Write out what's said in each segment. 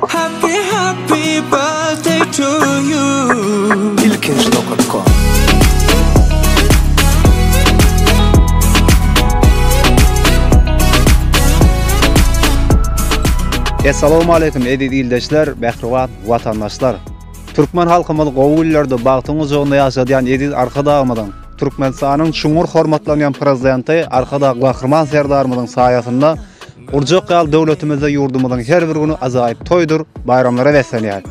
Happy happy birthday to you Ilkinji nokat kom. Essalowmaleýkim eziz ildeşler, mähriban watandaşlar! Türkmen halkymyz gowy günlerde bagtyň gujagynda ýaşadýan eziz Arkadagymyzyň, Türkmenistanyň çuňňur hormatlanýan Prezidenti Arkadag Gahryman Serdarymyzyň saýasynda Urjak ýaly döwletimizde ýurdumyzyň her bir güni ajaýyp toýdur baýramlara beslenýär.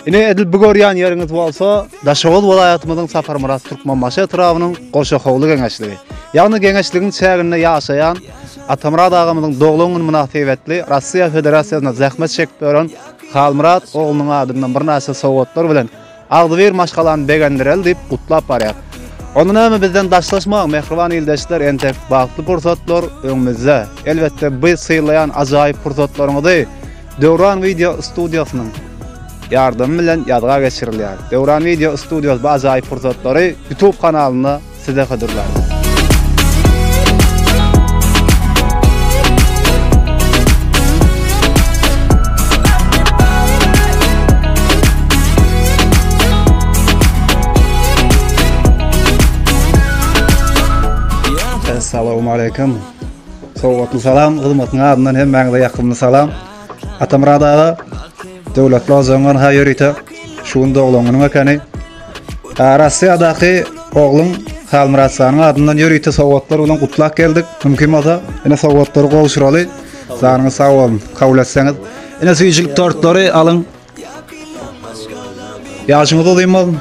Ine, edil bu görýän ýeriňiz bolsa Daşoguz welaýatymyzyň Saparmyrat Türkmenbaşy etrabynyň Goşahowly geňeşligi. Ýagny geňeşligiň çäginde ýaşaýan Atamyrat agamyzyň doglan güni mynasybetli Russiýa Federasiýasyna zähmet çekip ýören Halmyrat oglunyň adyndan birnäçe sowgatlar bilen Agzybir maşgalany begendireli diýip gutlap barýar. Onda näme bizden daşlaşmaň mähriban ildeşler entek bagtly pursatlar öňümizde. Elbetde biz sylaýan ajaýyp pursatlaryňyzy Döwran Wideo Studiosnyň ýardamy bilen ýazga geçirilýär. Döwran Wideo Studios bu ajaýyp pursatlary Youtube kanalynda Size hodurlar. Assalamu aleykum. Sowatly salam, hyzmatyň adyndan hem maňa ýakymly salam. Atamrad aga, döwletli ozaňan ha ýörite. Şu gün doglan günüň ekeni. Rossiýadaky ogluň Halmyrat janyň adyndan ýörite sowgatlar bilen gutlap geldik. Mümkin bolsa, ine sowgatlary gowşuraly. Janyňyz sag bolsun, kabul etseňiz. Ine süýjülik tortlary alyň. Ýaşyňyz uzyn bolsun.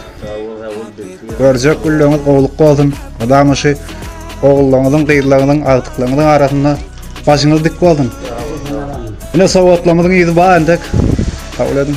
Görjek günleriňiz gowlukly bolsun. Mydama şu ogullaryňyzyň, gyzlaryňyzyň, agtyklaryňyzyň arasynda başyňyz dik bolsun. Ine sowgatlaryňyzyň ýüzi bar entek. Kabul ediň.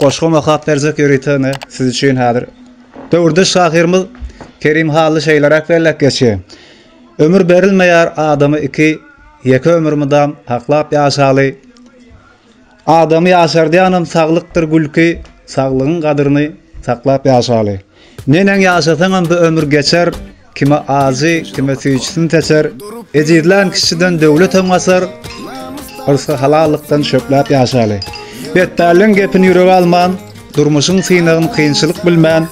Goşgym okap berjek ýörite ine siz üçin häzir döwürdeş şahyrymyz Kerim Hally şeýleräk belläp geçýär, Ömür berilmeýär adama iki, Ýeke ömür mydam saklap ýaşaly. Adamy ýaşardýanam saglykdyr gülki, Saglygyň gadryny saklap ýaşaly. Neneň ýaşasaňam bu ömür geçer, Kime ajy, kime süýjüsin seçer, Ejizlän kişiden döwletem gaçar, Yrsgy halallykdan şöpläp ýaşaly. Betpälleň gepini ýürege alman, Durmuşyň synagyn kynçylyk bilmän,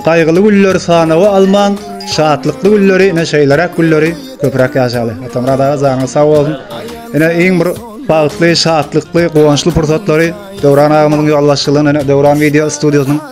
Gaýgyly günleri sanawa alman, Şatlykly günleri, ine şeýleräk günleri köpräk ýaşaly. Atamyrat aga janyňyz sag bolsun. Ine iň bir bagtly, şatlykly, guwançly pursatlary Döwran agamyzyň ýolbaşçylygynda, ine Döwran wideo studiýasynyň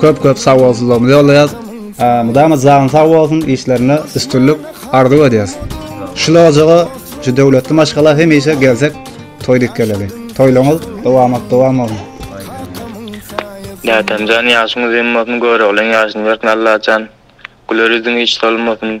Köp köp sagbolsuzlygymyzy ýollaýas. Mydama janyň sag bolsun işlerinde üstünlik arzuw edýäs. Şul ojaga şu döwletli maşgala hemişe gelsek toý dik geleli. Toýlaryňyz dowamat dowam bolsun. Nätemjan ýaşyň uzyn bolsun göroglyň ýaşyny bersin Allajan güler ýüzüň hiç solmasyn.